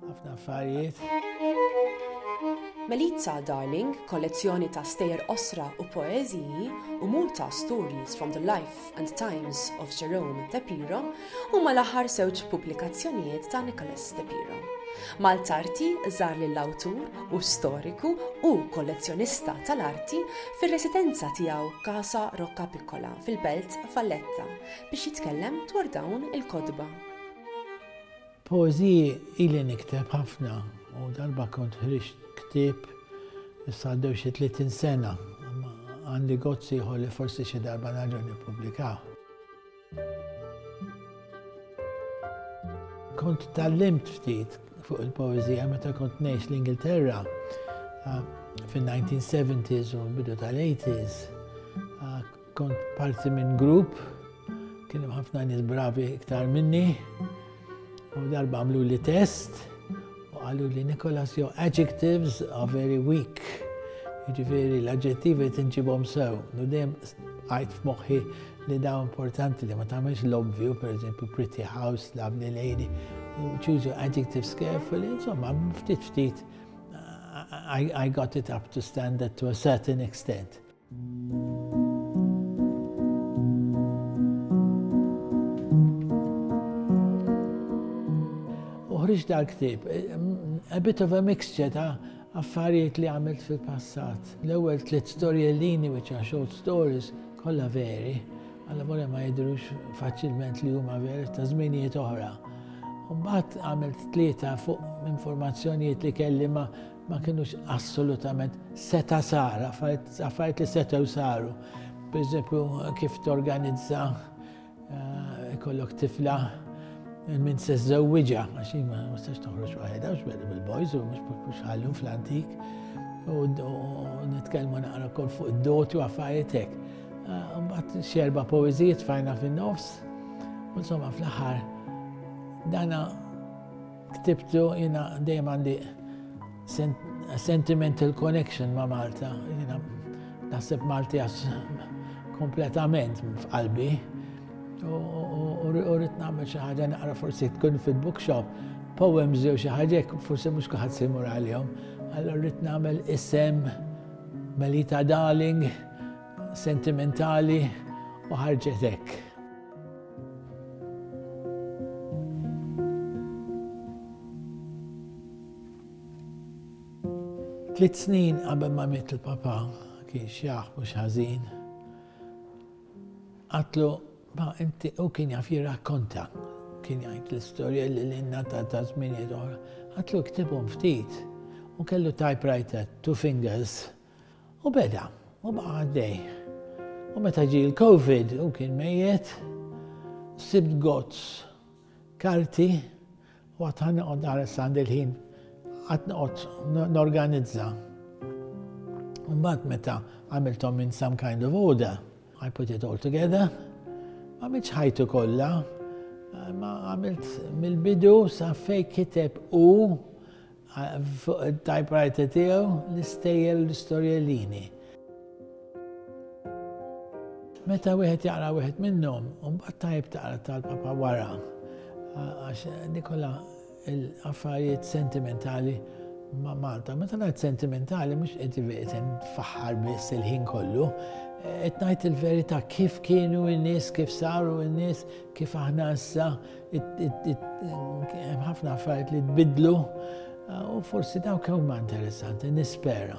Ħafna affarijiet. Melitza Darling, kollezzjoni ta' stejjer qosra u poeżiji, u Muta, Stories from the Life and Times of Jerome De Piro, huma l-aħħar żewġ pubblikazzjonijiet ta' Nicholas De Piro. Maltarti żar lill-awtur u storiku u kollezzjonista tal-arti fir-residenza tiegħu Casa Rocca Piccola fil-Belt Valletta biex jitkellem dwar dawn il-kotba. Poeżiji ili nikteb ħafna u darba kont ħriġt ktieb issa għaddew xi 30 sena. Għandi gozz ieħor li forsi xi darba nerġa' nippubblikah. Kont tallimt ftit fuq il-poezija meta kont ngħix l-Ingilterra ah, fin-1970s u bidu tal-80s. Ah, Kont parti minn grupp, kien hemm ħafna nies bravi iktar minni, u darba għamlu li test, u għallu li Nikolas jo adjectives are very weak. Ġifiri l-adjettivi tinġibom sew, u dem għajt f'moħħi li daw importanti li ma tagħmilx l-obvju, per eżempju, pretty house, lovely lady, choose your adjectives carefully, insomma, ftit ftit, I, I got it up to standard to a certain extent. U ħriġt dal ktib a bit of a mixture ta' affarijiet li għamilt fil-passat. L-ewwel tliet storjellini which are short stories kollha veri, għalla volja ma jidrux faċilment li huma veri ta' żminijiet oħra. Mbagħad għamilt tlieta fuq informazzjonijiet li kelli ma' ma kinux assolutament seta sar, affarijiet li setew saru. Per eżempju, kif torganizza eh, kollok tifla minn se żewwiġa, għax ma nistax toħroġ waħedha, għax beda bil-boys u mhux ħallum fl-antik. U nitkellmu naqra kol fuq id-doti u affarijiet hekk. Eh, mbagħad xerba poeżijiet fajna fin-nofs. Insomma, fl-aħħar dana Ktibtu, jiena dejjem għandi sentimental connection ma' Malta. Jiena naħseb Malti għax kompletament f'qalbi. U rrit nagħmel xi ħaġa naqra forsi tkun fil-bookshop, poems jew xi ħaġa forsi mhux kuħad se jmur għalihom. Allora rrit nagħmel isem Melita Darling, sentimentali u ħarġetek. Tliet snin qabel ma miet il-papa kien xjaħ mhux ħażin. Għatlu, ma inti u kien jaf jirrakkonta, kien jgħid l-istorja li l-inna ta' ta' żminijiet oħra. Għatlu ktibhom ftit u kellu typewriter, two fingers. U beda, u baqa' għaddej. U meta ġie l-Covid u kien mejjet, sibt gozz karti u għad ħan noqgħod naħres għand il-ħin għad noqgħod norganizza. Mbagħad meta għamilthom in some kind of order, I put it all together, ma mitx ħajtu kollha, ma għamilt mill-bidu sa fej kiteb u Fuq it-typewriter tiegħu l-istejjel l-istorjellini. Meta wieħed jaqra wieħed minnhom, mbagħad tajb taqra tal-papa wara. Għax Nikola l-affarijiet sentimentali ma' Malta. Meta ngħid sentimentali mhux qed ivetem faħħar biss il-ħin kollu, qed ngħid il-verità kif kienu n-nies, kif saru n-nies, kif aħna issa Hemm ħafna affarijiet li tbidlu u forsi dawk huma interessanti, nispera.